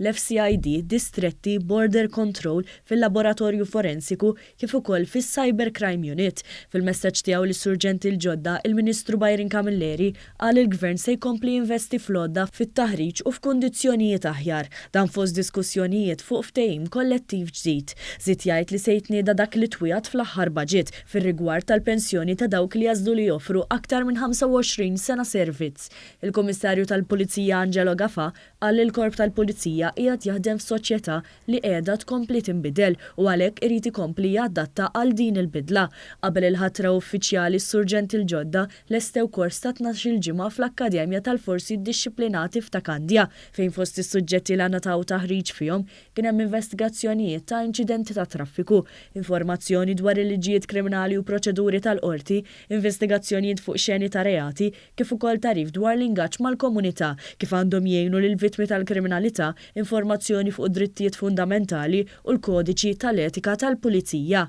l-FCID distretti Border Control fil-Laboratorju Forensiku kif ukoll fis-Cyber Crime Unit. Fil-messaġġ tiegħu lis-Surġenti l-ġodda, il-Ministru Byron Camilleri qal li l-Gvern se jkompli jinvesti fl-għodda, fit-taħriġ u f'kundizzjonijiet aħjar, dan fost diskussjonijiet fuq ftehim kollettiv ġdid. Żied jgħid li se jitnieda dak li twiegħed fl-aħħar baġit fir-rigward tal-pensjoni ta' dawk li jagħżlu li joffru aktar minn 25 sena servizz. Il-Kummissarju tal-Pulizija Angelo Gafà Qal li l-Korp tal-Pulizija qiegħed jaħdem f'soċjetà li qiegħda tkompli tinbidel u għalhekk irid ikompli jadatta għal din il-bidla. Qabel il-ħatra uffiċjali s-Surġenti l-ġodda lestew kors ta' tnax-il ġimgħa fl-Akkademja tal-Forzi Ddixxiplinati f'Ta' Kandja fejn fost is-suġġetti li ngħataw taħriġ fihom kien hemm investigazzjonijiet ta' inċidenti tat-traffiku, informazzjoni dwar il-liġijiet kriminali u proċeduri tal-qorti, investigazzjonijiet fuq xeni ta' reati, kif ukoll tagħrif dwar l-ingaġġ mal-komunità, kif għandhom jgħinu lill-vittmi tal-kriminalità, informazzjoni fuq id-drittijiet fundamentali u l-kodiċi tal-etika tal-pulizija.